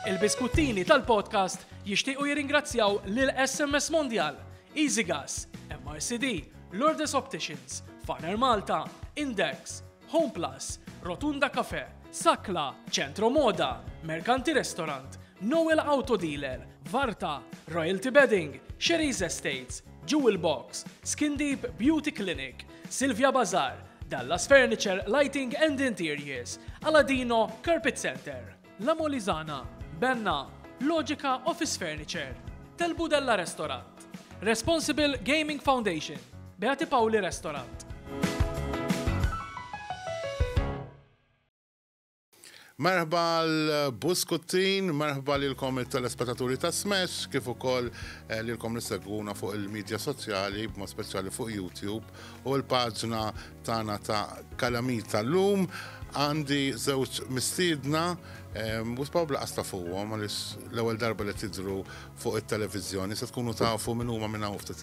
Il-biskuttini tal-podcast jixtiequ jirringrazzjaw lil SMS Mondial, Easy Gas, MRCD, Lourdes Opticians, Farner Malta, Index, Home Plus, Rotunda Cafe, Sakla, Centro Moda, Mercanti Restaurant, Noel Auto Dealer, Varta, Royalty Bedding, Sherry's Estates, Jewel Box, Skin Deep Beauty Clinic, Silvia Bazar, Dallas Furniture, Lighting and Interiors, Aladino, Carpet Center, La Molizana, Benna, Logica Office Furniture, Tel Budella Restaurant, Responsible Gaming Foundation, Beati Pauli Restaurant. Merħba għal Buskuttin, merħba lilkom it-telespetaturi ta' Smash, kif ukoll eh, lilkom li segwuna fuq il-medja soċjali, b'mod speċjali fuq YouTube u l-paġna tagħna ta' Kalamita llum għandi żewġ mistiedna u spaw blaqas ta' fuqhom għaliex l-ewwel darba li tidru fuq it-televiżjoni se tkunu tafu minn huma minn hawn ftit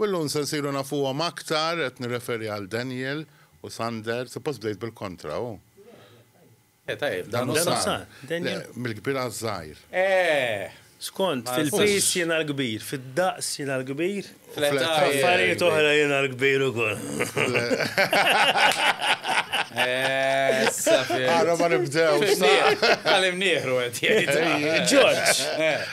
U llum se nsiru nafuhom aktar, qed nirreferi għal Daniel u Sander, suppost bdejt bil-kontra, hu? Le, tajjeb, Dan u Sar. Le, mill-kbir għaż-żgħir. Eh! Skont, fil-piż jiena l-kbir, fid-daqs jiena l-kbir. Fl-età. F'affarijiet oħra jiena l-kbir ukoll. Issa fimt. Ara ma nibdewx. Tagħlimnieħ, Tagħlimnieħ, Robert jgħid. Ġorġ!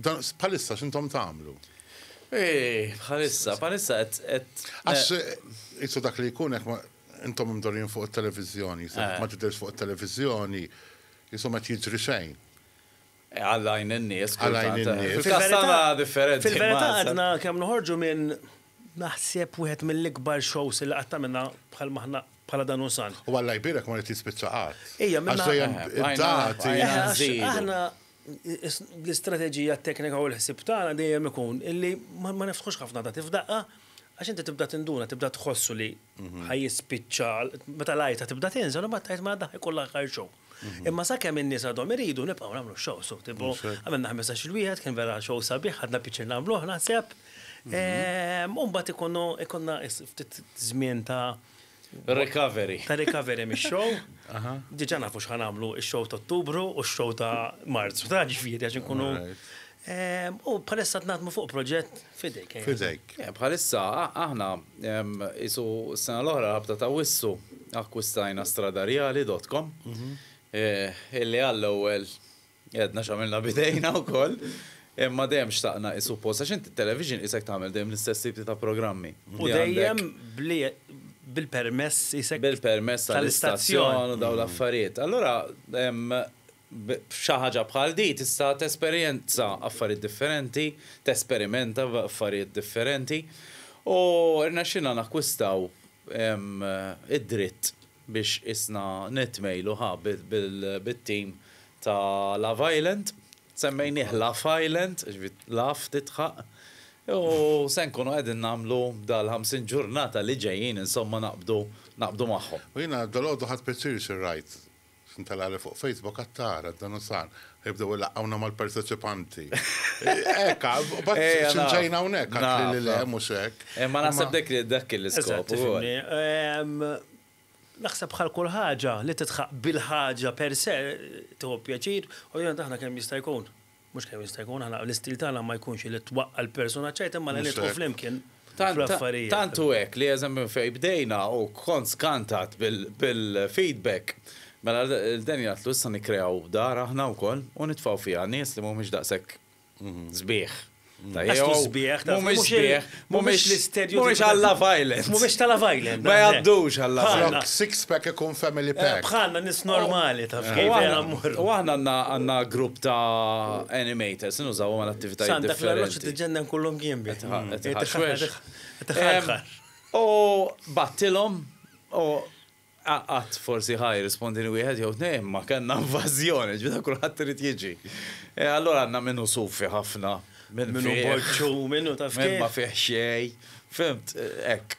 Bħalissa x'intom tagħmlu? Bħalissa, bħalissa qed. Għax qisu dak li jkun hekk intom imdorrin fuq it-televiżjoni, se ma tidhirx fuq it-televiżjoni, qisu ma qed jiġri xejn. Għallajn in-nies, għallajn in-nies. Fil-kastana differenti. Fil-verità għadna kemm noħorġu minn naħseb wieħed mill-ikbar shows li qatt għamilna bħal maħna bħala dan u san. U għallaj birek ma li tispiċċa qatt. Ejja, minn. Għax dejjem id-dati. Aħna L-istrateġija, t-teknika u l-ħsieb tagħna dejjem ikun illi ma niftħux ħafna dati f'daqqa għax inti tibda tinduna, tibda tħossu li ħa jispiċċa, meta l-għajta tibda tinżel imbagħad tgħid mela daħ ikun l-aħħar show. Imma sakemm in-nies għadhom iridu nibqgħu nagħmlu x-shows u tipo għamilna ħmistax-il wieħed kien vera show sabiħ ħadna pjaċir nagħmluh naħseb. U mbagħad ikunu ikollna ftit żmien ta' Recovery. Ta' recovery mix-show. Diġa nafu xħan għamlu il-show ta' ottubru u x-show ta' marzu. Ta' ġifiri, għax nkunu. Ehm, u bħalissa t-natmu fuq proġett fidejk. Eh. Fidejk. Eh, bħalissa, aħna, ehm, isu s-sena l-oħra rabta ta' wissu akkwistajna stradarjali.com mhm. eh, illi għall-ewel Għedna x'għamilna b'idejna wkoll, imma dejjem xtaqna hi suppost għax inti t-television qisek tagħmel dejjem l-istess tipi ta' programmi. U dejjem bil-permess qisek. Bil-permess tal-istazzjon u dawn l-affarijiet. Allura b'xi ħaġa bħal din tista' tesperjenza affarijiet differenti, tesperimenta b'affarijiet differenti u rnexxielna nakkwistaw id-dritt. biex qisna nitmejlu ha bit-tim ta' Love Island, semmejnieh Laugh Island, ġifieri laugh tidħaq, u se nkunu qegħdin nagħmlu dal-50 ġurnata li ġejjin insomma naqbdu naqbdu magħhom. U jiena dalgħodu ħadt pjaċir xi rajt, x'intela' li fuq Facebook għad tara d-Danuzan Ibdew ilaqqawna mal-parteċipanti. Ekka, bat xinġajna unek, għatli li le, mux ek. Eh, ma nasab dek li dak l-iskop. Ehm, naħseb bħal kull ħaġa li titħaq bil-ħaġa per se tuħu pjaċir, u jena taħna kemm jista' jkun. Mhux kemm jista' jkun, aħna l-istil tagħna ma jkunx li twaqqa l-persuna ċajt imma li nidħu flimkien. fl-affarijiet. Tant hu hekk li eżempju minn fejn bdejna u kont skantat bil-feedback, mela lil Daniel għidtlu issa nikkreaw dar aħna wkoll u nitfgħu fiha nies li mhumiex daqshekk sbieħ. Lastu sbieħ, taf, mhumiex sbieħ, mhumiex l-istedju. Mhumiex għal Love Island. Mhumiex ta' Love Island. Ma jgħaddux għal Love Island. Flok six pack ikun family pack. Bħalna nies normali taf kif jiena mmur. U aħna għandna grupp ta' animators, nużawhom għal attivitajiet differenti. Santa Claus tiġenna nkullhom jien biss. U battilhom u għat forsi ħaj rispondini wieħed jew tnejn ma kellna invażjoni, ġbita kulħadd irid jiġi. E, allora għandna minnu sufi ħafna. Minnu borċu, minnu taf. Minn ma fih xej. Fimt, ek.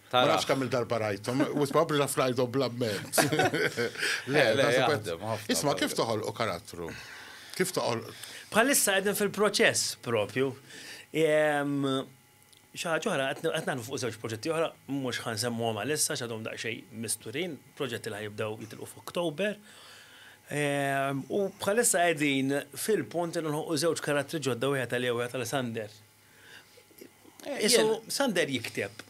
Ma nafx kemm il-darba rajthom, u probabbli naf rajthom bla ment. Le, le, jaħdem ħafna. Isma' kif toħolqu karattru? Kif toħol? Bħalissa qegħdin fil-proċess propju. Xi ħaġa oħra qed nagħmlu fuq żewġ proġetti oħra, mhux ħa nsemmuhom għalissa x'għadhom daqsxejn misturin, proġetti li ħa jibdew jitilqu f'Oktober. U bħalissa qegħdin fil-punt li nħolqu żewġ karattri ġodda wieħed għalija u wieħed għal Sander. Isu Sander jikteb.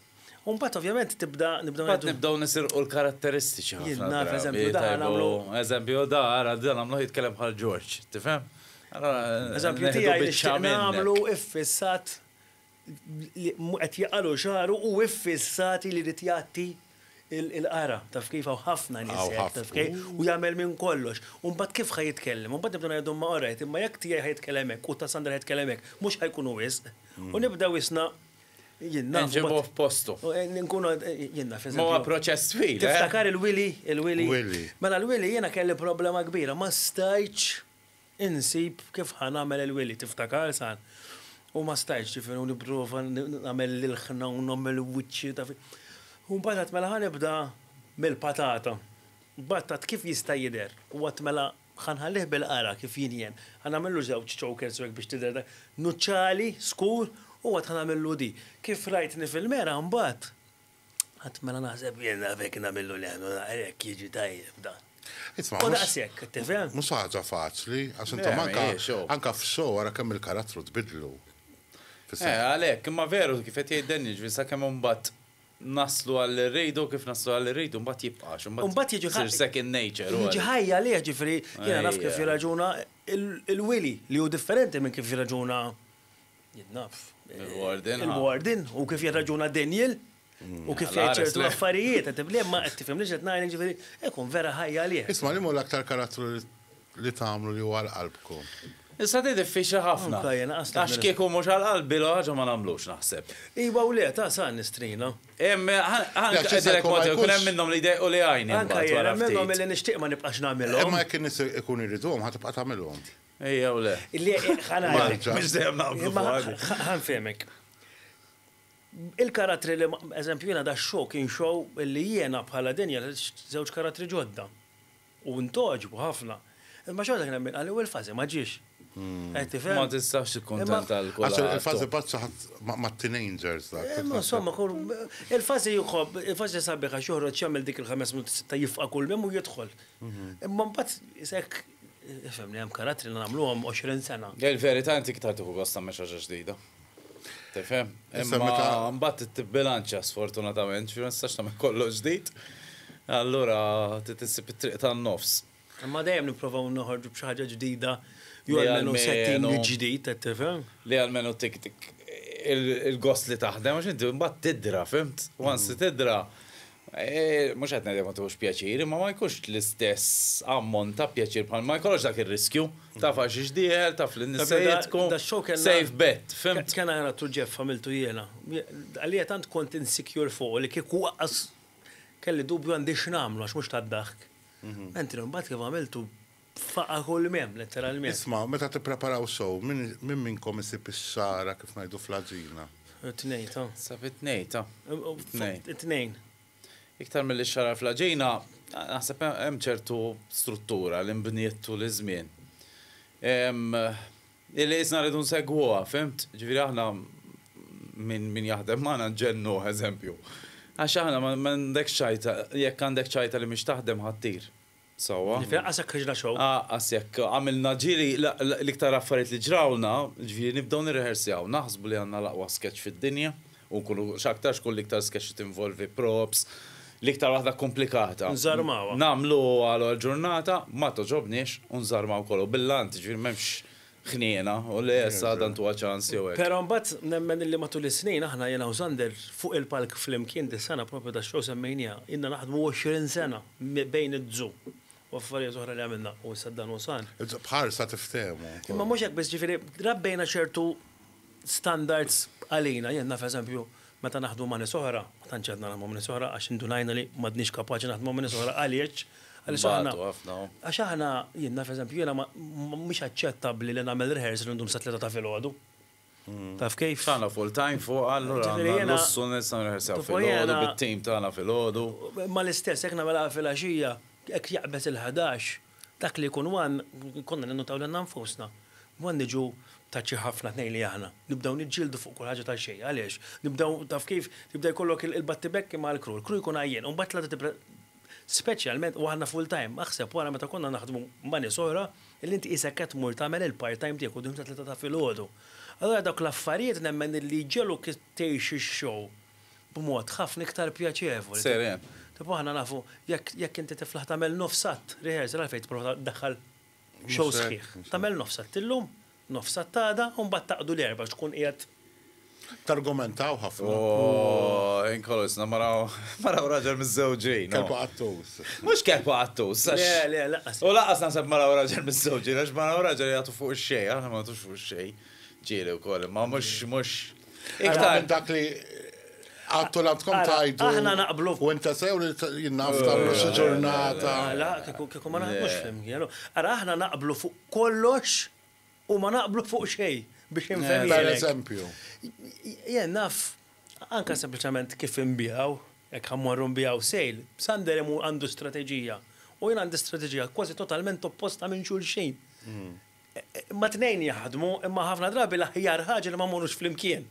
U mbagħad ovvjament tibda nibdew Bat nibdew nisirqu l-karatteristiċi ħafna. Jien naf, drabi, eżempju, da tajbu. nagħmlu- Eżempju, da, ara, da nagħmlu jitkellem bħal Ġorġ, tifhem? Ara, Eżempju neħdu tiegħi li biċċa xtieq minnek. nagħmlu iffissat li qed jaqalu xagħru u iffissati li jrid jgħatti Il-qara, taf kif, hawn ħafna nies hekk, taf kif, u jagħmel minn kollox. U mbagħad kif ħa jitkellem? U mbagħad nibdew ngħidu imma orajt, imma jekk tiegħi ħa jitkellem hekk u ta' Sandra ħa jitkellem hekk, mhux ħa jkunu wisq? U nibdew isna, jien naf. Inġibuh f'postu. Nkunu, jien naf. Ma huwa proċess twil. Tiftakar il-wili, il-wili. Wili. Mela l-wili jiena kelli problema kbira, ma stajtx. Insib kif ħa nagħmel il-wili, tiftakar sa? U ma stajtx, ġifieri, u nipprova nagħmel l-ilħna u nagħmel wiċċi, taf. U mbagħad għedt mela ħa nibda mill-patata. Mbagħad għadt kif jista' jidher u għadt mela ħa nħallih bil-qara kif jien jien. Ħa nagħmillu żewġ chokers u hekk biex tidher dak, nuċċali, skur, u mbagħad ħa nagħmillu di. Kif rajtni fil-mera mbagħad. Għad mela naħseb jenna fek namillu li għannu naqrek jieġi tajjeb da. U daqsek, tifem? Mus ħaġa faċli, għax inta manka, anka f-xo għara kemm il-karattru tbidlu. Eh, għalek, imma veru kif qed jgħid Dennis, ġvisa kemm imbagħad naslu għall rridu kif naslu għall rridu mbagħad jibqax. Mbagħad jiġi ħajja. second nature. Jiġi ħajja li ġifri, jiena naf kif jirraġuna il-wili li hu differenti minn kif jirraġuna Jien naf. Il-Warden, u kif jirraġuna Daniel, u kif jgħid ċertu affarijiet, qed tifhem, ma qed tifhem li x'qed ngħid, jiġifieri, ikun vera ħajja għalih. Isma' liema hu l-aktar karattru li tagħmlu li hu għal qalbkom? Issa di diffiċli ħafna. Għax kieku mhux għal qalbi l-ewwel ħaġa ma nagħmlux naħseb. Iva u le, ta' sa' nistrina. Hemm, ngħidilek mod, ikun hemm minnhom li jdejqu li għajni. Anke jien hemm minnhom li nixtieq ma nibqax nagħmilhom. Imma jekk in-nies ikunu jriduhom ħa tibqa' tagħmilhom. Ejjew le. Marċa, biex dejjem naqblu fuq. Ħa nfehmek. Il-karattri li, eżempju, jiena da show kien show li jiena bħala Daniel ħriġt żewġ karattri ġodda. U ntgħoġbu ħafna. Imma xorta kien hemm min qal li u l-fażi ma ġiex. Qed tifhem? Ma tistax tikkuntenta lil kulħadd. Għax il-fażi paċċa ħadd mat-teenagers dak. Imma insomma, il-fażi jħobb, il-fażi sabiħ għax joħroġ jagħmel dik il-ħames minuti sitta jifqa' kull mem u jidħol. Imma mbagħad hekk Ifhemni, hemm karattri li nagħmluhom 20 sena. Il-verità inti iktar tieħu gost tagħmel xi ħaġa ġdida. Tifhem? Imma mbagħad tibbilanċja sfortunatament, ġifieri ma tistax tagħmel kollox ġdid. Allura trid issib it-triq tan-nofs. Imma dejjem nipprovaw noħorġu b'xi ħaġa ġdida jew almenu setting ġdid, qed tifhem? Li almenu tik il-gost li taħdem għax inti mbagħad tidra, fhimt? Once tidra, Mhux qed ngħid jekk ma tieħux pjaċir, imma ma jkunx l-istess ammont ta' pjaċir bħal ma jkollokx dak ir-riskju. Taf għax ix dieħel, taf li n-nies se jidħku. Safe bet, fhimt? Kien ara t-Tul Jeff għamiltu jiena. Għalija tant kont insecure fuqu li kieku waqqas kelli dubju għandi x'nagħmlu għax mhux tad-daħk. Anthony mbagħad kif għamiltu F'faqar kull m'hemm, letteralment. Isma', meta tippreparaw sew, min, min minnkom isib ix-xagħra, kif ngħidu fl-għaġina? It-tnejn, ta. Sa fit-tnejn, ta. It-tnejn. It-tnejn. Iktar milli x-xagħra fl-għaġina, naħseb he, hemm ċertu struttura li nbniet tul iż-żmien. Hi li qisna rridu nsegwuha, fhimt? Ġifieri aħna, min, min jaħdem magħna nġennuh, eżempju. Għax aħna ma, m'għandekx ċajta, jekk għandek ċajta li mhix taħdem ħa ttir. Sewwa. Li fl-anqas jekk ħriġna show. Anqas jekk għamilna ġieli l-iktar affarijiet li ġrawlna, jiġifieri nibdew nirrehersjaw, naħsbu li għandna l-aqwa sketch fid-dinja u nkunu x'aktarx tkun l-iktar sketch li tinvolvi props, l-iktar waħda kkumplikata. Nżarmawha. Nagħmluha l-ewwel ġurnata, ma togħġobniex u nżarmaw kollu. Bil-lant, jiġifieri m'hemmx ħniena u li issa għadha ntuha ċans jew hekk. Però mbagħad nemmen illi matul is-snin aħna jiena u Sander fuq il-palk flimkien dis-sena propju tax-show semmejniha, ilna naħdmu 20 sena bejn iż-Zoo u affarijiet oħra li għamilna u issa dan hu sar. B'ħarsa tiftehmu. Imma mhux hekk biss, jiġifieri rabbejna ċertu standards għalina, jien naf eżempju Meta naħdmu ma' nies oħra, ma tantx għadna naħdmu ma' nies oħra għax indunajna li m'għadniex kapaċi naħdmu ma' nies oħra għaliex? Għaliex aħna. Nbatu ħafna. Għax aħna, jien naf eżempju, jiena ma, mhix aċċettabbli li nagħmel rehearsal u ndum sa tlieta ta' filgħodu. Taf kif? Tagħna full time fuq allura għandna l-lussu nistgħu nirrehearsaw filgħodu bit-tim tagħna filgħodu. Imma l-istess jekk nagħmilha filgħaxija, jekk jaqbeż il-ħadax, Dak li jkun one, konna ninnutaw lilna nfusna. One niġu ta' xi ħafna tnejn li aħna. Nibdew niġġieldu fuq kull ħaġa ta' xejn. Għaliex? Nibdew, taf kif, jibda jkollok il-battibekki mal-crew. Il-crew jkun għajjien u mbagħad tlata tibda, speċjalment, u aħna full time. Aħseb wara meta konna naħdmu ma' nies oħra li inti qisek qed tmur tagħmel il-part time tiegħek quddiem ta' tlieta ta' filgħodu. Allura dawk l-affarijiet nemmen li jġegħluk tgħix ix-show. b'mod ħafna iktar pjaċevoli. Seren. Tipo aħna nafu jekk jekk inti tiflaħ tagħmel nofs att rehearsal għalfejn tipprova ddaħħal show Mhux hekk, sħiħ. mhux hekk. Tagħmel nofs att illum, nofs att għada u mbagħad taqdu l-Erbgħa biex tkun qiegħed Targumentaw ħafna. Ooh, in kolosna mara mara u raġel miżżewġin. oh. Kelb qattus. Mhux kelb qattus, għax. Le, le, lanqas. U lanqas naħseb mara u raġel miżżewġin, għax mara u raġel jagħtu fuq ix-xejn, aħna ma nagħtux fuq ix-xejn. Ġieli wkoll, imma mhux mhux Iktar. Dak li Għattu l-għandkom tajdu. Aħna naqblu. U inta sew li jinnaf tamlu xi ġurnata. La, kieku ma naħdmux flimkien. Ara aħna naqblu fuq kollox u ma naqblu fuq xej biex infhem. Per eżempju. Jen naf, anka sempliċement kif imbijaw, jekk ħammorru mbijaw sejl, Sander għandu strateġija. U jien għandi strateġija kważi totalment opposta minn xulxin. Ma tnejn jaħdmu, imma ħafna drabi l-aħjar ħaġa li ma mmorrux flimkien.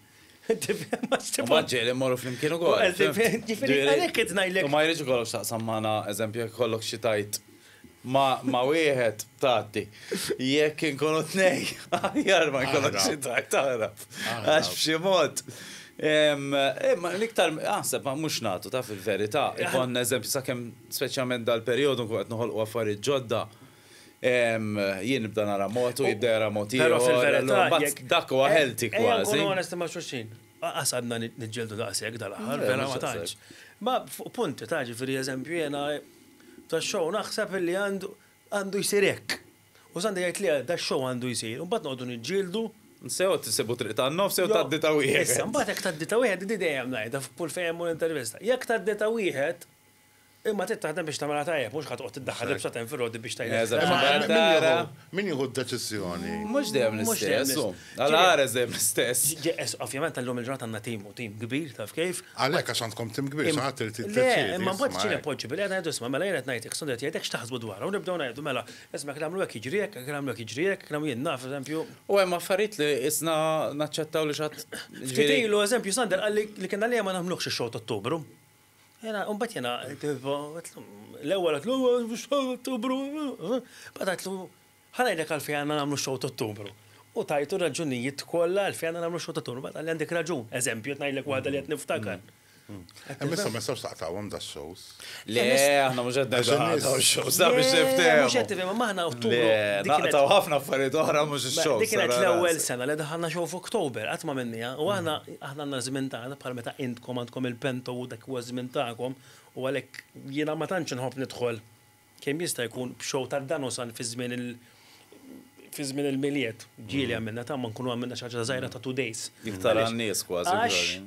U ma ġieli mmorru flimkien ukoll. Ġifieri għalhekk qed ngħidlek. U ma jridx ikollok x'taqsam magħna, eżempju, jekk ikollok xi tgħid ma' wieħed tgħaddi. Jekk inkunu tnejn, aħjar ma jkollok xi tgħid taħrab. Għax b'xi mod. Imma l-iktar aħseb ma mhux nagħtu taf il-verità. Ikollna eżempju sakemm speċjalment dal-perjodu nkunu qed noħolqu affarijiet ġodda. Jien nibda nara mod u jibda jara mod ieħor. Però fil-verità jekk. Dak huwa healthy kważi. Ejja nkunu onesti ma' xulxin. Lanqas għadna niġġieldu daqshekk dal-aħħar, vera ma tantx. Ma fuq punti ta' ġifieri eżempju jiena tax-show naħseb illi għandu jsir hekk. U Sandi jgħid le dax-show għandu jsir. U mbagħad noqogħdu niġġieldu. Sew tisibu triq tan-nofs jew tgħaddi ta' wieħed. Issa mbagħad jekk tgħaddi ta' wieħed, din dejjem ngħidha f'kull fejn imur intervista. Jekk tgħaddi ta' wieħed, Imma trid taħdem biex tagħmilha tajjeb, mhux ħa toqgħod tiddaħħal libsa ta' infirodi biex tgħidlek. Min jieħu d-deċiżjoni? Mhux dejjem l-istess. Għal Ares dejjem l-istess. Ovvjament illum il-ġurnata għandna tim u tim kbir taf kif. Għalhekk għax għandkom tim kbir xi ħadd irid jiddeċiedi. Le, imma mbagħad ġieli poġġi bilqiegħda ngħidu isma' mela jien qed ngħid hekk, Sondel qed jgħid hekk x'taħsbu dwarha u nibdew ngħidu mela isma' jekk nagħmlu hekk jiġri hekk, jekk nagħmlu hekk jiġri hekk, nagħmlu jien naf eżempju. U hemm affarijiet li qisna naċċettaw li xi ħadd. Ftit ilu eżempju Sandel qalli li kien għalija ma nagħmluhx ix-show t'Ottubru. Jena, un bat jena, l-ewel għatlu, ottubru, bat għatlu, ħanajlek għalfej għanna namlu xow ottubru. U tajtu raġunijiet kolla għalfej għanna namlu xow ottubru, bat għalli għandek raġun, eżempju, tnajlek wahda li għet niftakar. Missa, mm. missa, xtaqtawom da shows. Le, għanna mux għedda da shows, da biex niftem. Mux għedda, ma maħna ottubru. Naqtaw ħafna affarijiet oħra mux shows. Dik kienet l-ewel sena li daħanna xow f'Oktober, għatma minnija, u għanna Aħna għandna ż-żmien tagħna bħal meta intkom għandkom il-pento u dak huwa ż-żmien tagħkom u għalhekk jiena ma tantx inħobb nidħol kemm jista' jkun b'show ta' dan u san fiż-żmien il fiż-żmien il-Milied. Ġieli għamilna tama nkunu għamilna xi ħaġa żgħira ta' two days. Iktar għan-nies kważi kważi.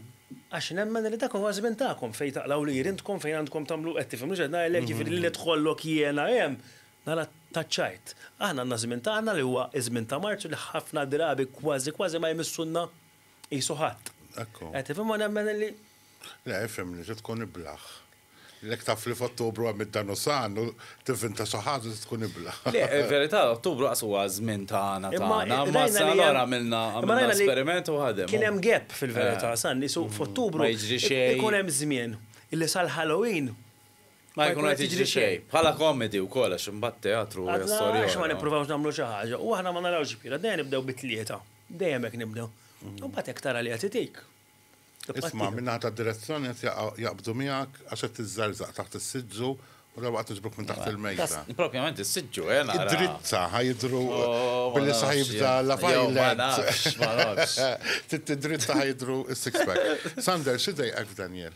Għax nemmen li dak huwa ż-żmien tagħkom fejn taqlgħu lhir intkom fejn għandkom tagħmlu qed tifhem x'qed ngħidlek jiġifieri li nidħollok jiena hemm nara taċċajt. Aħna għandna ż-żmien tagħna li huwa ż-żmien ta' Marzu li ħafna drabi kważi kważi ma jmissulna qisu ħadd. Ekku. Qed tifhem ma nemmen li. Le, ifhem li tkun iblaħ. Lek taf li f'Ottubru hemm id-Danusan u tivvinta xi ħaġa tkun iblaħ. Le, verità, Ottubru qas huwa żmien tagħna tagħna. Ma sa allura għamilna esperiment u ħadem. Kien hemm gap fil-verità, san, f'Ottubru. Ma jiġri xejn. Ikun hemm żmien. Illi sal-Halloween Ma jkun qed jiġri xejn. Bħala komedi wkoll għax imbagħad teatru hija storja oħra. Għax ma nippruvawx nagħmlu xi ħaġa u aħna ma narawx x'kbira, dejjem nibdew bi tlieta. Dejjem hekk nibdew. Imbagħad hekk tara li qed itik. Isma' min-naħa tad-direzzjoni qed jaqbdu miegħek għax qed tiżżerżaq taħt is-siġġu u darba qed tiġbuk minn taħt il-mejda. Propjament is-siġġu, eh nara. Id-drizza ħajdru billi sa jibda la fajlet. Trid id-drizza ħajdru s-six pack. Sander, xi dejqek f'Daniel?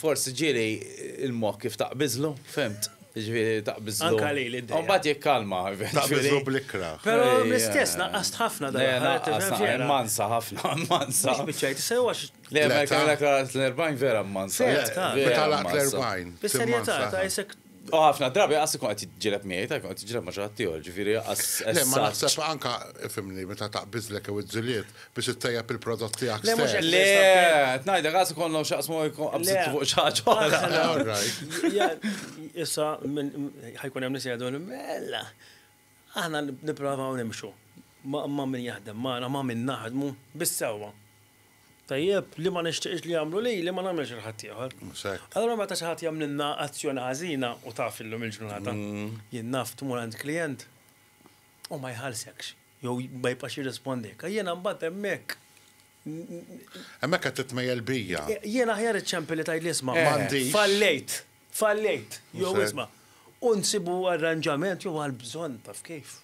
Forsi ġieli l-moħħ kif taqbiżlu, fimt? Jiġifieri taqbiżlu. Anka lili d-dejja. U mbagħad jikkalma. Taqbiżlu bl-ikrah. Però l-istess naqqast ħafna dan. Mansa ħafna, mansa. Mhux biċċejt, sew għax. Le, ma jkun l-40 vera mansa. Meta l-40. Bis-serjetà, ta' isek. U ħafna drabi għas ikun qed jiġġieled miegħi, ta' jkun qed jiġġieled ma' xi ħadd ieħor, ġifieri għas. Le, ma naħseb anka fimni meta taqbiżlek jew iż-żuliet biex ittejjeb il-prodott tiegħek. Le, mhux hekk. Le, qed ngħidlek għas ikollhom x'jaqsmu jkun qabżitu fuq xi ħaġa oħra. Issa ħajkun hemm nies jgħidu li mela aħna nipprovaw nimxu ma' min jaħdem magħna, ma' min naħdmu bis-sewwa. Tajjeb, li ma nixtieqx li jagħmlu lili ma nagħmilhiex lil ħaddieħor. Mhux hekk. Allura meta xi ħadd jagħmlilna azzjoni ħażina, u taf illum il-ġurnata, jien naf tmur għand klijent u ma jħallsekx, jew ma jibqax jirrispondilek, jiena mbagħad hemmhekk. Hemmhekk qed titmejjel bija. Jien aħjar iċċempel li tgħidli isma'. M'għandix. Fallejt, fallejt, jew isma'. U nsibu arranġament jew għall-bżonn taf kif.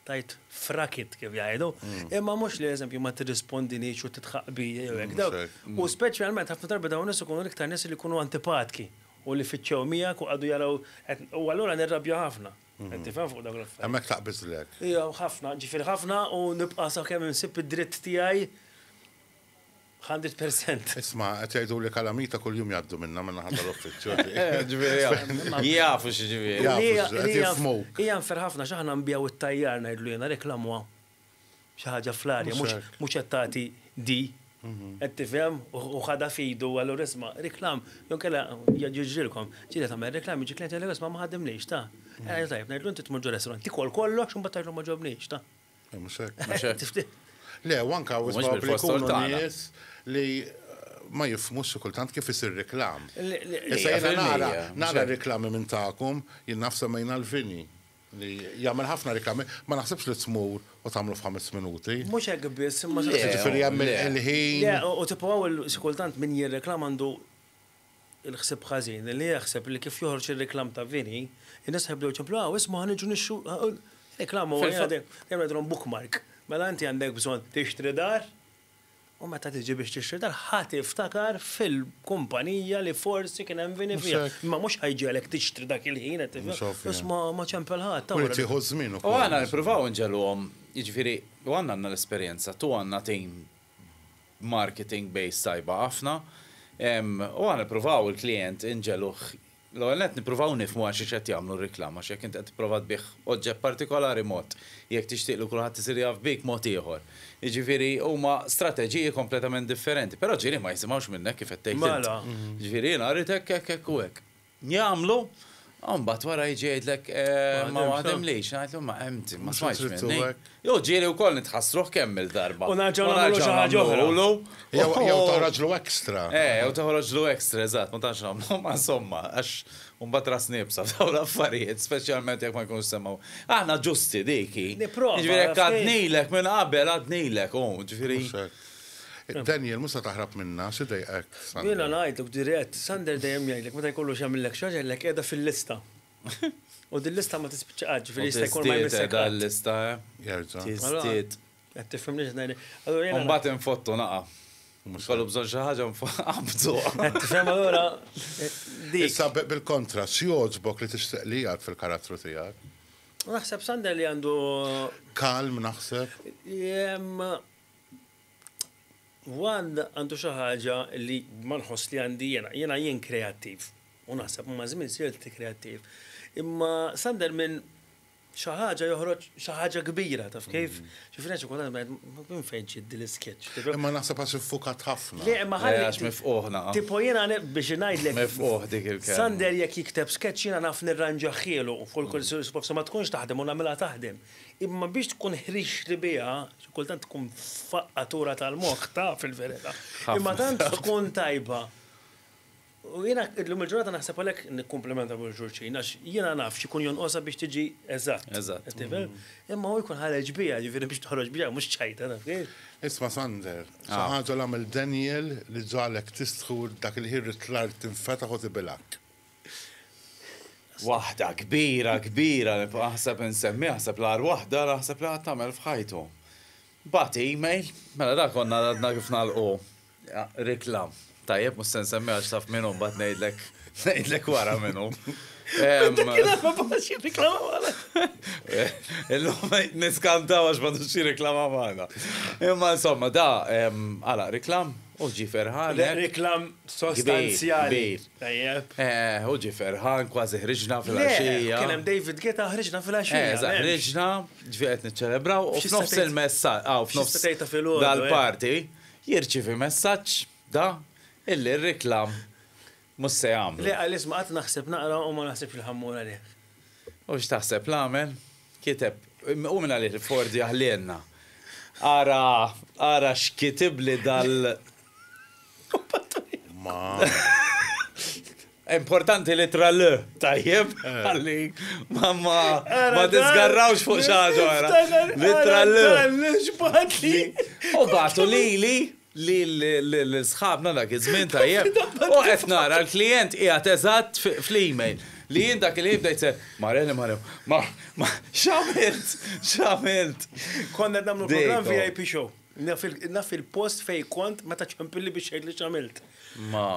tajt frakit kif jgħidu, mm. imma mhux li eżempju ma tirrispondinix u titħaq bija jew hekk mm, daw. Mm. U speċjalment ħafna darbi dawn nies ikunu l-iktar nies li jkunu antipatki u li fiċċew miegħek u għadu jaraw u allura nirrabja ħafna. Mm-hmm. Tifhem fuq dak l-affarijiet. Hemmhekk taqbiżlek. Ija, ħafna, ġifier ħafna u nibqa' sakemm insib id-dritt tiegħi Hundred percent. Isma, qed jgħidu li kalamita kuljum jgħaddu minna minna ħadd l-uffiċċju. Ġifieri jafu x'ġifieri. Hija nfer ħafna x'aħna nbiegħu t-tajjar ngħidlu jiena reklamwa xi ħaġa fl-arja mhux qed tagħti di. Qed tifhem u ħadha f'idu allura isma' reklam jew inkella jiġrilkom. Ġieli tagħmel reklam jiġi klient jgħidlek isma' ma ħadimniex ta. Tajjeb ngħidlu inti tmur ġo restaurant tikol kollox u mbagħad tgħidlu ma ġobniex ta. Mhux hekk. Le, u anke hawn li jkunu nies li ma jifmux kultant kif isir reklam. Issa jiena nara, nara reklami minn tagħkom, jien naf semmejna l-vini li jagħmel ħafna reklami, ma naħsibx li tmur u tagħmlu f'ħames minuti. Mhux hekk biss, imma ġifieri hemm il-ħin. U tipprovaw il-kultant min jirreklama għandu il-ħsieb ħażin li jaħseb li kif joħroġ ir-reklam ta' vini, in-nies ħa jibdew jċemplu, Aw, isma' ħa niġu nixtru, reklam huwa qiegħed jagħmilhom bookmark. Mela inti għandek bżonn tixtri dar, u meta tiġi biex tixtri dar ħa tiftakar fil-kumpanija li forsi kien hemm vini fiha. Imma mhux ħa jġegħlek tixtri dak il-ħin qed tifhem, biss ma ċempel ħadd. U jrid jieħu ż-żmien ukoll. U aħna nippruvaw inġegħluhom, jiġifieri, u aħna għandna l-esperjenza, tu għandna tim marketing base tajba ħafna u aħna nippruvaw il-klijent inġegħluh l-ewwel nett nippruvaw nifhmu għal xiex qed jagħmlu r-riklama għax jekk int qed tipprova tbigħ oġġett partikolari mod, jekk tixtieq li kulħadd isir jaf bik mod ieħor. Jiġifieri huma strateġiji kompletament differenti, però ġieli ma jisimgħux minnek kif qed tgħid int. Jiġifieri jiena rrid hekk hekk hekk u hekk. Jagħmlu, u mbagħad wara jiġi jgħidlek ma waħdimlix, ngħidlu ma empty, ma smajtx minni. Jew ġieli wkoll nitħassruh kemm il-darba. U nerġgħu nagħmlu xi ħaġa oħra. Jew toħroġlu extra. Eh, jew toħroġlu extra, eżatt, ma tantx nagħmlu, ma insomma, għax mbagħad ras niebsa f'dawn l-affarijiet, speċjalment jekk ma jkunux semgħu. Aħna ġusti dik hi. Nipprova. Jiġifieri jekk għadnilek minn qabel għadnilek, hu, jiġifieri. Daniel, mhux se taħrab minna, xi dejqek? Jiena ngħidlek dirett, Sander dejjem jgħidlek meta jkollu x'jagħmillek xi ħaġa jgħidlek qiegħda fil-lista. U din lista ma tispiċċa qatt, ġifieri jista' jkun ma jmissek. Tiżdied dan lista, eh? Jerġa'. Tiżdied. Qed tifhimni x'qed ngħidlek. Allura jiena. Mbagħad infottu naqa'. Mhux kollu bżonn xi ħaġa nfaqabdu. Qed tifhem allura. Issa bil-kontra, x'jogħġbok li tixtieq li jgħid fil-karattru tiegħek? Naħseb Sander li għandu. Kalm naħseb. One għandu xi ħaġa li ma nħoss li għandi jiena, jiena jien kreattiv. U naħseb ma' żmien sirt kreattiv. Imma Sander minn xi ħaġa joħroġ xi ħaġa kbira taf kif? Ġifieri għax kultant ngħid minn fejn ġiet din l-isketch. Imma naħseb għax iffukat ħafna. Le imma ħalli. Le għax mifqugħ naqaf. Tipo jiena biex ngħidlek. Mifqugħ dik il-kelma. Sander jekk jikteb sketch jiena naf nirranġahielu. Forsi ma tkunx taħdem u nagħmilha taħdem. Imma biex tkun ħriġtli biha, xi kultant tkun faqqatura tal-moħħ taf fil-verità. Imma tant tkun tajba. U jiena illum il-ġurnata naħseb għalhekk nikkumplimenta lil xulxin għax jiena naf x'ikun jonqosha biex tiġi eżatt. Eżatt. Imma hu jkun ħareġ biha, ġifieri biex toħroġ biha mhux ċajta taf kif. Isma' Sander, xi ħaġa li għamel Daniel li ġagħlek tistħu dak il-ħin li t-tlajr tinfetaħ u tibilgħek? Waħda kbira kbira li aħseb insemmiha, aħseb l-agħar waħda li aħseb li qatt għamel f'ħajtu. Bagħat email, mela dak konna għadna kif nagħlqu rikla. Tajjeb mhux se nsemmiha għax taf min hu mbagħad ngħidlek ngħidlek wara min hu. Illum niskantaw għax ma tux reklama magħna. Imma insomma da għala reklam U ġie ferħan hekk. Reklam sostanzjali. Kbir, kbir. Tajjeb. Eh, u ġie ferħan, kważi ħriġna fil-għaxija. Kien hemm David Geta ħriġna fil-għaxija. Eżatt, ħriġna, ġifieri qed niċċelebraw u f'nofs il-messaġġ, aw f'nofs dal-party, jirċievi messaġġ da illi r-reklam Mhux se jagħmlu. Le, għaliex ma qatt naħseb naqra u ma naħsibx li ħa mmur għalih. U x'taħseb l-għamel? Kiteb, u minn għalih Fordy aħlielna. Ara, ara x'kitibli dal. Importanti l-ittra l, tajjeb, għalli, ma ma ma disgarrawx fuq xaġa għara. L-ittra l. U batu li li, lil sħabna dak iż-żmien tajjeb u qed nara l-klijent qiegħed eżatt fl-email li jien dak il-ħin bdejt se Mare li Mare ma ma x'għamilt x'għamilt. Konna qed nagħmlu programm VIP show. Naf il-post fejn kont meta ċempilli biex tgħidli x'għamilt.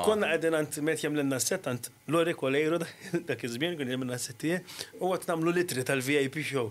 Konna qegħdin għand meta jagħmlilna s-sett għand Lori Coleiro dak iż-żmien kien jagħmilna s-sett tiegħi u qed nagħmlu l-ittri tal-VIP show.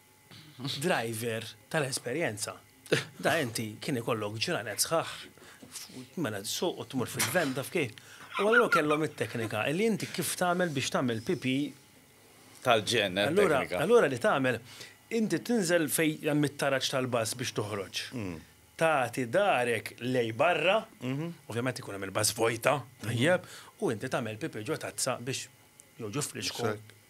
Driver tal-esperjenza. Da inti kien ikollok ġranet sħaħ mela tsuq u tmur fil-van taf kif. U allura kellhom it-teknika li inti kif tagħmel biex tagħmel pipì. Tal-ġenn it-teknika. Allura li tagħmel, inti tinżel fejn hemm it-taraġ tal-bass biex toħroġ. Tagħti dahrek lejn barra, ovvjament ikun hemm il-bass vojta, tajjeb, u inti tagħmel pipì ġo tazza biex jew ġo frisko.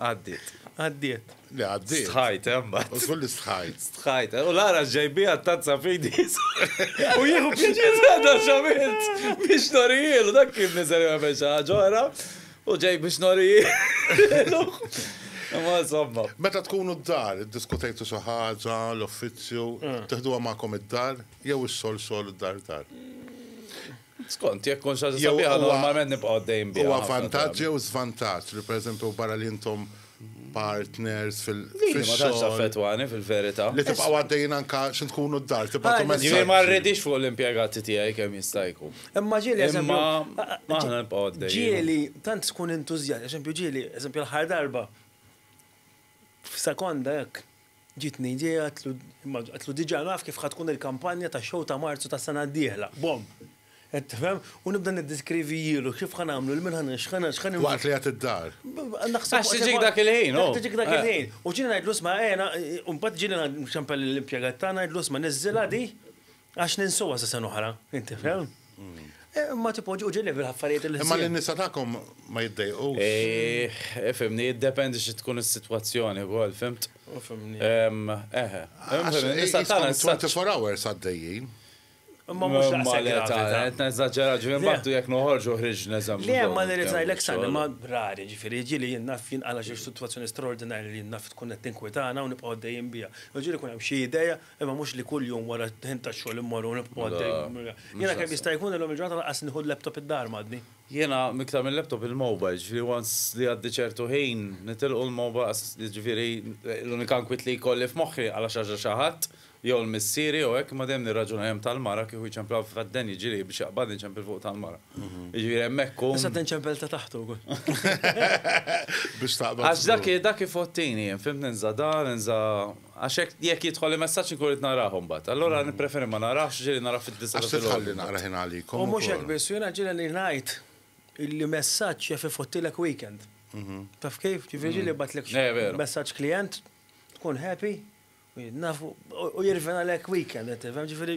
Għaddiet. Għaddiet. Li għaddiet. Stħajt, emma. Eh, u kull li stħajt. Stħajt, eh, u l-għara ġejbi għattazza fidi. U jieħu pjaċir għadda xamilt. Biex norijil, dak kif nizari għamil xaġora. U ġej biex norijil. Ma somma. Meta tkunu d-dar, diskutajtu xi ħaġa, l-uffiċċju, mm. teħduha magħkom id-dar jew ix-xogħol xogħol id-dar dar. Skont, jekk tkun xi ħaġa sabiħa normalment nibqgħu għaddejjin biha. Huwa vantaġġ jew żvantaġġ li pereżempju barra li intom partners fil-xogħol. Ma tantx affettwani fil-verità. Li tibqgħu għaddejjin anke xi tkunu d-dar tibgħatu messaġġi. Jiġifieri ma rridix fuq l-impjegati tiegħi kemm jista' jkun. Imma ġieli eżempju. Imma aħna nibqgħu għaddejjin. Ġieli tant tkun entużjast, eżempju ġieli, eżempju l-aħħar darba F'sekonda hekk ġietni idea, għedtlu diġà naf kif ħa tkun il-kampanja tax-show ta' Marzu tas-sena d-dieħla. Bomm! Qed tifhem? U nibda niddeskrivijielu kif ħa nagħmlu, il-min ħa nix, x'ħa nix. Waqt li qed iddar. Naħseb. Għax tiġik dak il-ħin, hu. Tiġik dak il-ħin. U ġieli ngħidlu isma' ejja, u mbagħad ġieli nċempel lill-impjegat tagħna ngħidlu isma' niżżilha di. Għax ninsuha sa sena oħra, inti fehm? Ma tipoġġu ġil level affarijiet il Imma l-nisa tagħkom ma jiddejqu. Fimni, jiddependi xi tkun is-sitwazzjoni wkoll, fimt? Fimni. Eħe. Nisa tagħna 24 hours għaddejjin. Ma mhux daqshekk gravità. Qed neżaġġera ġifieri mbagħad jekk noħorġu ħriġ neżamm. Le ma nirrid ngħidlek sani ma rari ġifieri jiġieli jien naf jien għala xi sitwazzjoni straordinarja li jien naf tkun qed tinkwitana u nibqgħu għaddejjin biha. Jiġieli jkun hemm xi idea Imma mhux li kull jum wara d-dħin tax-xogħol immorru u nibqgħu għaddejjin. Jiena kemm jista' jkun illum il-ġurnata lanqas nieħu l-laptop id-dar magħni. Jiena iktar mil-laptop il-mobile, ġifieri once li jgħaddi ċertu ħin nitilqu l-mobile għas, jiġifieri l-unika nkwiet li jkolli f'moħħi għala xi ħaġa xi ħadd jew l-missieri jew hekk imma dejjem nirraġuna hemm tal-mara kieku jċemplaw f'għaddien jiġri biex jaqbadni nċempel fuq tal-mara. Jiġifieri hemmhekk hu. Issa tinċempel ta' taħt ukoll. Biex taqbad. Għax dak dak ifottini jien, fhimtni nża' dan, inża' Għax hekk jekk jidħol li messaġġ inkun rrid narah imbagħad. Allura nippreferi ma narahx, ġieli narah fid-disgħa ta' filgħodu. Għax se tħalli naqrah jien għalikom ukoll. U mhux hekk biss, u jiena ġieli li ngħid illi messaġġ jaf ifottilek weekend. Taf kif? Ġifieri ġieli jibgħatlek messaġġ klijent, tkun happy, u jirvenalek weekend, qed tifhem? Ġifieri.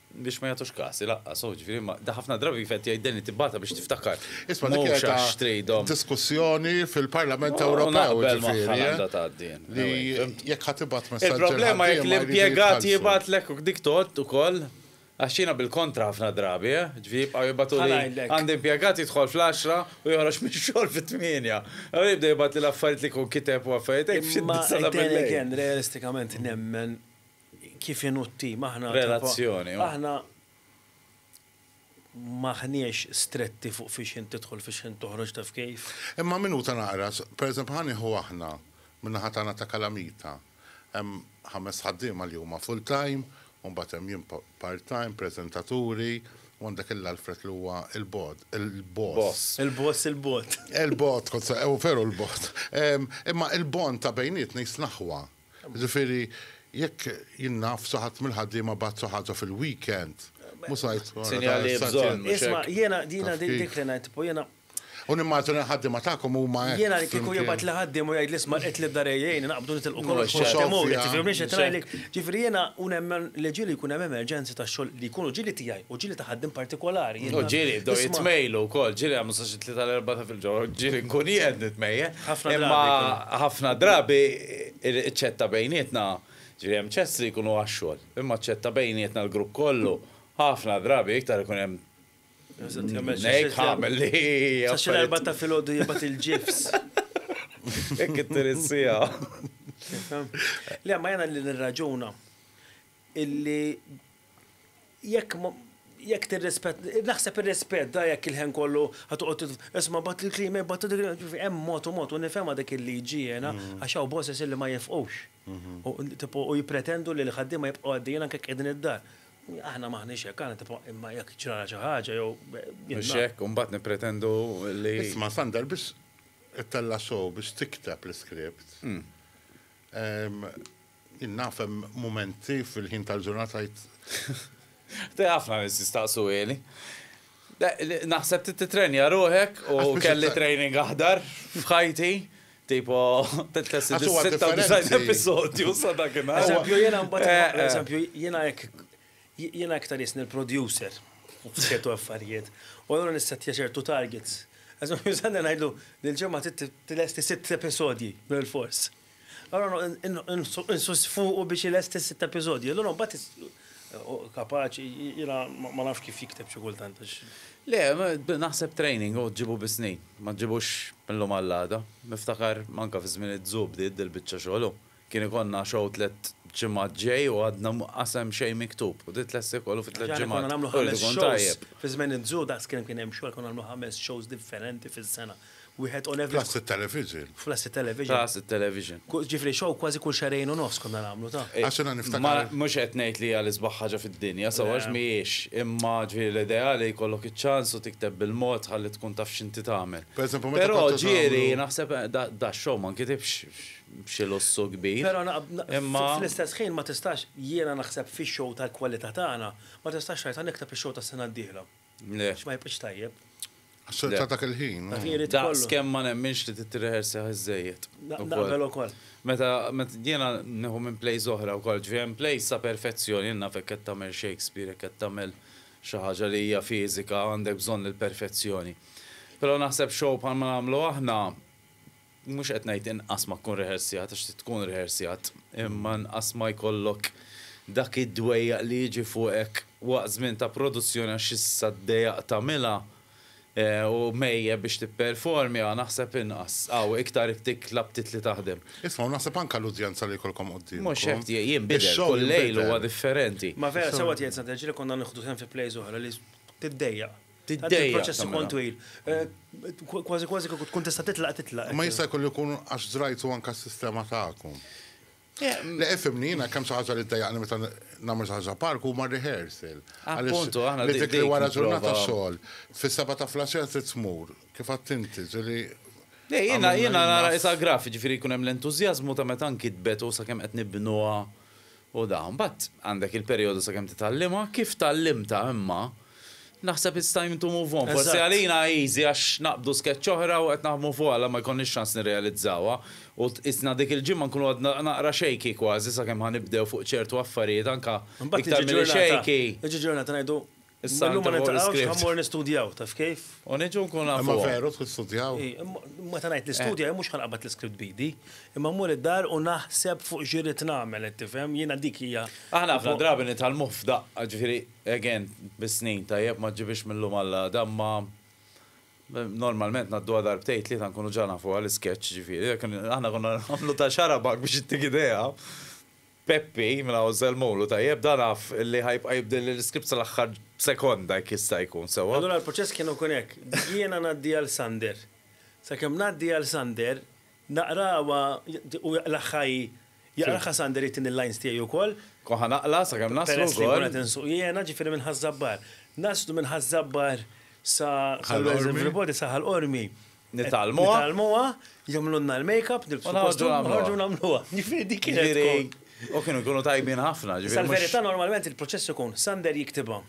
Biex ma jagħtux każ, ilaqqas hu, ġifieri ma, da ħafna drabi kif qed jgħid Danny tibgħatha biex tiftakar. Isma' dik hija ta' diskussjoni fil-Parlament Ewropew ġifieri, eh? Li jekk ħa tibgħat messaġġ. Il-problema jekk l-impjegat jibgħatlek u dik tgħodd ukoll, għax jiena bil-kontra ħafna drabi, eh? Ġifieri jibqgħu jibgħatuli, għandi impjegat jidħol fl-għaxra u joħroġ mix-xogħol fit-tmienja. Allura jibda jibgħatli l-affarijiet li jkun kiteb u affarijiet hekk f'xi disa' ta' bil-lejl. Imma then again, realistikament nemmen kif inhu t-tim, aħna. Relazzjoni, oh. Aħna m'aħniex stretti fuq fiex ħin tidħol fiex ħin toħroġ taf kif. Imma minuta naqra, pereżempju ħa nieħu aħna min-naħa tagħna ta' Kalamita. Hemm ħames ħaddiema li huma full time, u mbagħad hemm jien part time, preżentaturi, u għandek il-Alfred li huwa il-bod, il-boss. Il-boss il-bot. Il-bot, u veru l-bot. Imma il-bond ta' bejnietna jisnaħwa. Jiġifieri jekk jien naf xi ħadd mill-ħaddiema bagħat xi ħaġa fil-weekend, mhux ngħid wara Sinjali bżonn, mhux hekk? Isma' jiena jiena di dik li ngħid, tipo jiena U nimmaġina l-ħaddiema tagħkom huma hekk. Jiena kieku jibgħat li ħaddiem u jgħidli isma' qed l-ibdar għejjejni naqbdu nitilqu kollox u x'għedt imur, qed tifhimni x'qed ngħidlek? Ġifieri jiena u nemmen li ġieli jkun hemm emerġenzi ta' xogħol li jkunu ġieli tiegħi u ġieli ta' ħaddiem partikolari. U ġieli jibdew jitmejlu wkoll, ġieli jagħmlu sa xi tlieta l-erbgħa ta' filgħodu, ġieli nkun jien nitmejjel. Ħafna drabi. Imma ħafna drabi ċ-ċetta bejnietna, ġifieri hemm ċets li jkunu għax-xogħol, imma ċ-ċetta bejnietna l-grupp kollu, ħafna drabi iktar ikun hemm ngħid ħamel li. Sa xi l-erbgħa ta' filgħodu jibgħat il-ġifs. Hekk ittir is-siegħa. Le, ma jiena li nirraġuna illi Jekk ma, jekk tirrispett, naħseb irrispetta jekk il-ħen kollu ħa toqgħod tit, isma' batt il-kliem, ej batt il-kliem, ġifi hemm mod u mod u nifhemha dik il-liġi jiena għax hawn bosses illi ma jifqux. U tipo u jippretendu li l-ħaddiema jibqgħu għaddejjin anke jekk qiegħdin id-dar. Aħna m'aħniex hekk, aħna tipo imma jekk ġralha xi ħaġa jew jien. Mhux hekk u mbagħad nippretendu li. Isma' Sander biex ittella' show biex tikteb l-iskript, Jien naf hemm mumenti fil-ħin tal-ġurnata li. Te ħafna nies jistaqsu Eli. Naħseb trid titrenja ruħek u kelli training aħdar f'ħajti. Tipo, t-test il-96 episodju sa dakinhar. Eżempju, jena mbagħad, eżempju, jena hekk jena hekk ta' nisni l-producer u f'ċertu affarijiet. U allura nissettja ċertu targets. Eżempju, sanna ngħidlu, l-ġemma t-lesti sitt episodji, bil-fors. Allura noqgħod insuss fuqu biex ilesti sitt episodji. Allura mbagħad hu kapaċi, jiena ma nafx kif jikteb xi kultant għax. Le, naħseb training hu ġġibu bis-snin, ma ġġibux mil-lum għall-għada. Niftakar anke fi żmien iz-Zu bdiet dil-biċċa xogħol hu. Kien ikollna show tliet ġimgħat ġej u għadna mqas hemm xejn miktub u titlesti kollu fi tliet ġimgħat. Aħna konna nagħmlu ħames shows fi żmien iz-Zu, daqs kemm kien hemm xogħol konna nagħmlu ħames shows differenti fis-sena. wieħed on average. Plus it-television. Plus it-television. Plus it-television. Ġifieri show kważi kull xahrejn u nofs konna nagħmlu ta'. Għax jiena niftakar. Mhux qed ngħid li hija l-isbaħ ħaġa fid-dinja, sew għax mhijiex, imma ġifieri l-ideali jkollok iċ-ċans u tikteb bil-mod ħalli tkun taf x'inti tagħmel. Pereżempju meta kont. Però ġieli naħseb dax-show ma nkitibx b'xi lussu kbir. Però imma. Fl-istess ħin ma tistax, jiena naħseb fix-show tal-kwalità tagħna, ma tistax tgħid ħa nikteb ix-show tas-sena d-dieħla. Le. X'ma jibqgħx tajjeb. Għax-xogħol ta' dak il-ħin. Daqs kemm ma nemminx li titreħersi ħiżżejjed. Naqbel ukoll. Meta jiena nieħu minn plays oħra wkoll, ġifieri hemm plays sa perfezzjoni, jien naf jekk qed tagħmel Shakespeare, jekk qed tagħmel xi ħaġa li hija fiżika għandek bżonn il-perfezzjoni. Però naħseb show bħalma nagħmlu aħna, Mhux qed ngħid inqas ma tkun rehersjat għax trid tkun rehersjat, imma inqas ma jkollok dak id-dwejjaq li jiġi fuqek waqt żmien ta' produzzjoni għax issa d-dejaq tagħmilha u mhejjeb biex tipperformja, naħseb inqas. Hawn iktar iktik l-aptit li taħdem. Isma' u naħseb anke l-udjenza li jkollkom quddiemkom. Mhux hekk, jinbidel, kull lejl huwa differenti. Ma vera sewwa tgħid Sant'Eġili konna nieħdu sehem fi plays oħra li tiddejjaq. Tant il-proċess ikun twil. Kważi kważi kieku tkun tista' titlaq titlaq. Imma jista' jkollu jkun għax żrajtu anke s-sistema tagħkom. Le ifhimni jiena kemm xi ħaġa li ddejjaqni meta nagħmel xi ħaġa park huma r-rehearsal. Appuntu, aħna dik li wara ġurnata xogħol, fis-sebgħa ta' flaxija trid tmur, kif għedt inti, ġieli. Le jiena jiena nara qisha graff, jiġifieri jkun hemm l-entużjażmu ta' meta nkitbet u sakemm qed nibnuha U da, mbagħad għandek il-perjodu sakemm titgħallimha, kif tgħallimtha imma, naħseb it's time to move on. Forsi għalina easy għax naqbdu sketch oħra u qed naħdmu fuqha la ma jkollniex ċans nirrealizzawha u qisna dik il-ġimgħa nkunu għadna naqra shaky kważi sakemm ħa nibdew fuq ċertu affarijiet anke iktar milli shaky. Imbagħad tiġi ġurnata ngħidu Issa Illum ma inti fuq niltaqgħux l-iskript. ħa mmur nistudjaw, taf kif? U niġu nkunu Imma nafuhom. veru trid studjaw? I, imma meta ngħid nistudja jien mhux ħa nqabbad l-iskript b'idi, imma mmur id-dar u naħseb fuq x'irrid nagħmel, qed tifhem? Jiena dik hija. Aħna ħafna drabi nitgħallmuh f'daqqa, ġifieri, again, bis-snin, tajjeb, ma ġġibhiex mil-lum għall-għada, imma normalment ngħadduha darbtejn, tlieta nkunu ġa nafuha l-isketch, ġifieri, jekk aħna konna nagħmlu ta' xarabak biex ittik idea. Peppi, mela hu żelmulu, tajjeb, dan af li ħa jibqa' jibdilli l-iskript sal-aħħar sekonda jekk jista' jkun, sewwa? Allura l-proċess kien ikun hekk, jiena ngħaddi għal Sander. Sakemm ngħaddi għal Sander, naqrawha, hu jaqlagħha hi, jaqlagħha Sander jagħtini l-lines tiegħi wkoll. Nkun ħa naqla' sakemm naslu wkoll. Peress li nkun qed insuq jiena, ġifieri minn Ħaż-Żabbar. Naslu minn Ħaż-Żabbar sa Ħal Qormi. Sa Ħal Qormi, Nitgħallmuha. Nitgħallmuha, jagħmlulna l-makeup, nilbsu kostum, noħorġu nagħmluha. Jiġifieri dik kienet tkun. U kienu jkunu tajbin ħafna, ġifieri. Issa l-verità normalment il-proċess ikun Sander jiktibha,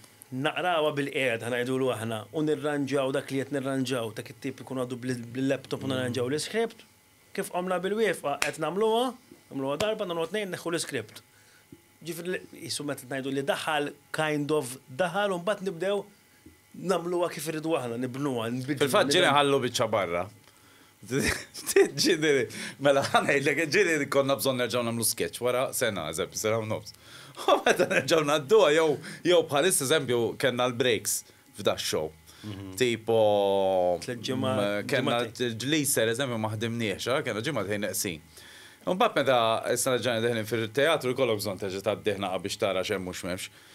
naqrawha bilqiegħda ngħidulu aħna u nirranġaw dak li qed nirranġaw, dak it-tip ikun għadu bil-laptop u nirranġaw l-iskript. Kif qomna bil-wieqfa qed nagħmluha, nagħmluha darba, nagħmluha tnejn, neħħu l-iskript. Ġifieri qisu meta ngħidu li daħal, kind of daħal u mbagħad nibdew. nagħmluha kif irridu aħna, nibnuha, nbidluha. Fil-fatt ġieli nħallu biċċa barra. Ġieli, mela ħanejdlek, ġieli konna bżonn nerġgħu nagħmlu sketch wara sena, eżempju, sena u nofs. U meta nerġgħu ngħadduha jew bħalissa, eżempju, kellna l-breaks f'da x-show. Tipo, kellna l-gliser, eżempju, ma ħdimniex, kellna ġimgħatejn neqsin. Imbagħad meta issa reġgħajna dieħlin fil-teatru jkollok bżonn terġa' tgħaddi ħnaqa biex tara x'hemm u x'm'hemmx.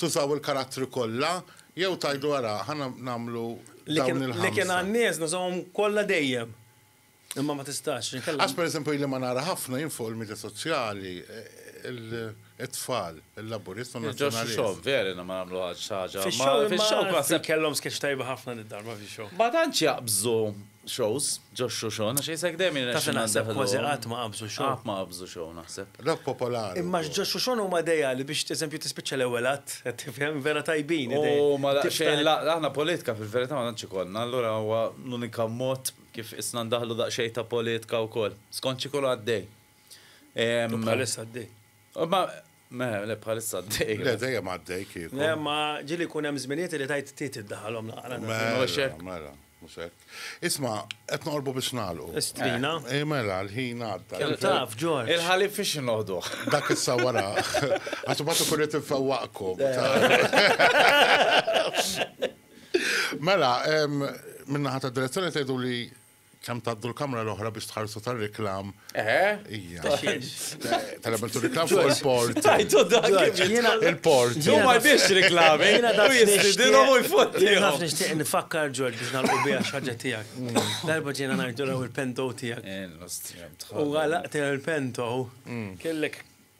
Tużaw il-karattri kollha jew tgħidu ara ħa nagħmlu dawn il-ħamsa? Li kien għan-nies nużawhom kollha dejjem. Imma ma tistax, inkella. Għax pereżempju ili ma nara ħafna jien fuq il-midja soċjali it-tfal, il-Laburist u n-Nazzjonalist. Ġo x-show, vera jiena ma nagħmluhiex xi ħaġa. Fix-show, fix-show naħseb. Kellhom sketch tajba ħafna did-darba fix-show. Ma tantx jaqbżu Shows, ġo show show, naxi jisek dejjem jirna. Taf naħseb kważi qatt ma qabżu show. Qatt ma qabżu show naħseb. Rock popolari. Imma ġo show show huma dejali biex eżempju tispiċċa l-ewwel att, qed tifhem vera tajbin. U ma daqsxejn aħna politika fil-verità ma tantx ikollna, allura huwa l-unika mod kif isna ndaħlu daqsxejn ta' politika wkoll. Skont xi jkun għaddej. Bħalissa għaddej. Meħe, le bħalissa għaddej. Le dejjem għaddej kieku. Le ma ġili kun hemm żminijiet li tajt tit iddaħalhom naqra. Mela, mela, mhux hekk. Isma' qed noqorbu biex nagħlqu. Istrina. Eh, eh, mela, l-ħin għadda. Kemm taf, Ġorġ. Il-ħalib fiex noħdu. Dak issa wara. Għax ma tkun qed infewwaqkom. Mela, minnaħa ta' direzzjoni tgħidu li Kemm tgħaddu l-kamra l-oħra biex tħarsu tar-reklam. Ija. Tal-għamil tu reklam fuq il-port. Tajtu dak il-port. Ġu ma biex reklami. Jina da jistidilom u jfotti. Jina naf nishtiq nifakkar ġorġ biex nalqu bija xaġa tijak. Darba ġina najdu l-ewel pento tijak. U għalaqt il-pento. Kellek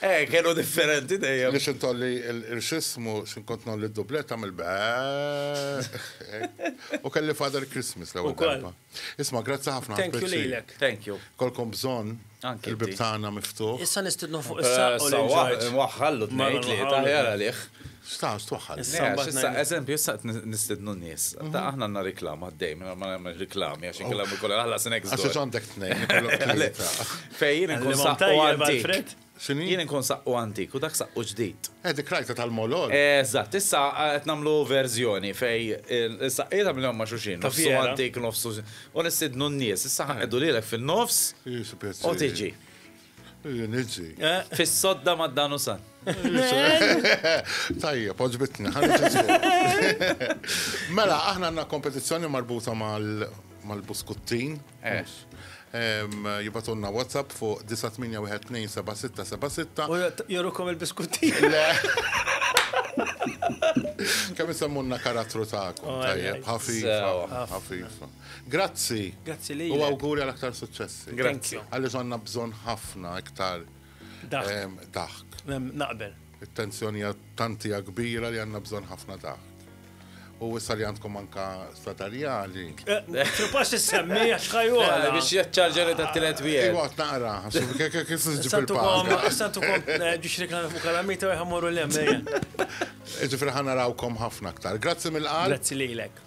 Eh, kienu differenti dejjem. Biex intolli il-xismu, xinkont nolli d-dublet, għamil U kelli Father Christmas l ewwel darba. Isma, grazzi ħafna. Thank you lilek. Thank you. Kolkom bżon. Il-bibtana miftuħ. Issa nistidnu fuq issa. Waħħallu t-nejt li taħjar għalih. Sta, stwaħħal. Issa, eżempju, issa nistidnu n-nis. Ta' mhm. aħna għanna reklam għaddej, minna ma għanna reklam, għax oh. kellam il-kolla għalla s-next. Għax għandek t-nej. Fejn, nkun saqqu għantik. Jien nkun saqqu għantik u dak saqqu ġdid. Edi eh, krajta tal-molol. Eżatt, issa għet eh, namlu verżjoni fej issa jgħida mill-għom ma xuxin, nofsu għantik, nofsu. U nistidnu n-nis, issa għeddu eh. li l fil-nofs. U tiġi. Nizzi. Eh? Fis-sodda ma' dan u san. Tajja, poġbitni, Mela, aħna għanna kompetizzjoni marbuta mal-buskuttin. Eh. Jibatunna WhatsApp fuq 9812766. U jorukom il-buskuttin. Kemm isemmunna karattru ta'kom, oh, tajjeb, ħafifa, ħafifa. Grazzi. Grazzi lilek. U awguri għal aktar suċċessi. Grazzi. Għaliex għandna bżonn ħafna iktar daħk. Naqbel. It-tensjoni tantija kbira li għandna bżonn ħafna daħk. U issa li għandkom anka statarjali. Tripax s-semmi, għaxħaju. Biex jaċċarġeri ta' t-tilet bija. Iwa, naqra, kek kif s-ġib il-pal. Santu kom, ġiġ li kan fuq kalamita u jħamuru l-lem. Ġifri ħana rawkom ħafna aktar. Grazzi mill-qal. Grazzi li l-ek.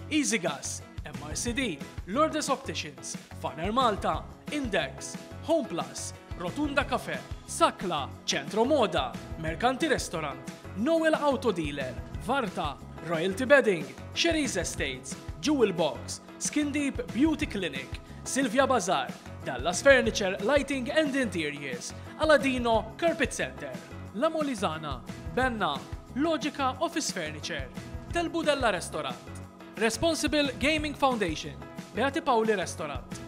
Easygas, MRCD, Lourdes Opticians, Faner Malta, Index, Homeplus, Rotunda Cafe, Sakla, Centro Moda, Mercanti Restaurant, Noel Auto Dealer, Varta, Royalty Bedding, Sherry's Estates, Jewel Box, Skin Deep Beauty Clinic, Silvia Bazar, Dallas Furniture Lighting and Interiors, Aladino Carpet Center, La Molizana, Benna, Logica Office Furniture, Del Budella Restaurant, Responsible Gaming Foundation, Beati Paoli Restaurant.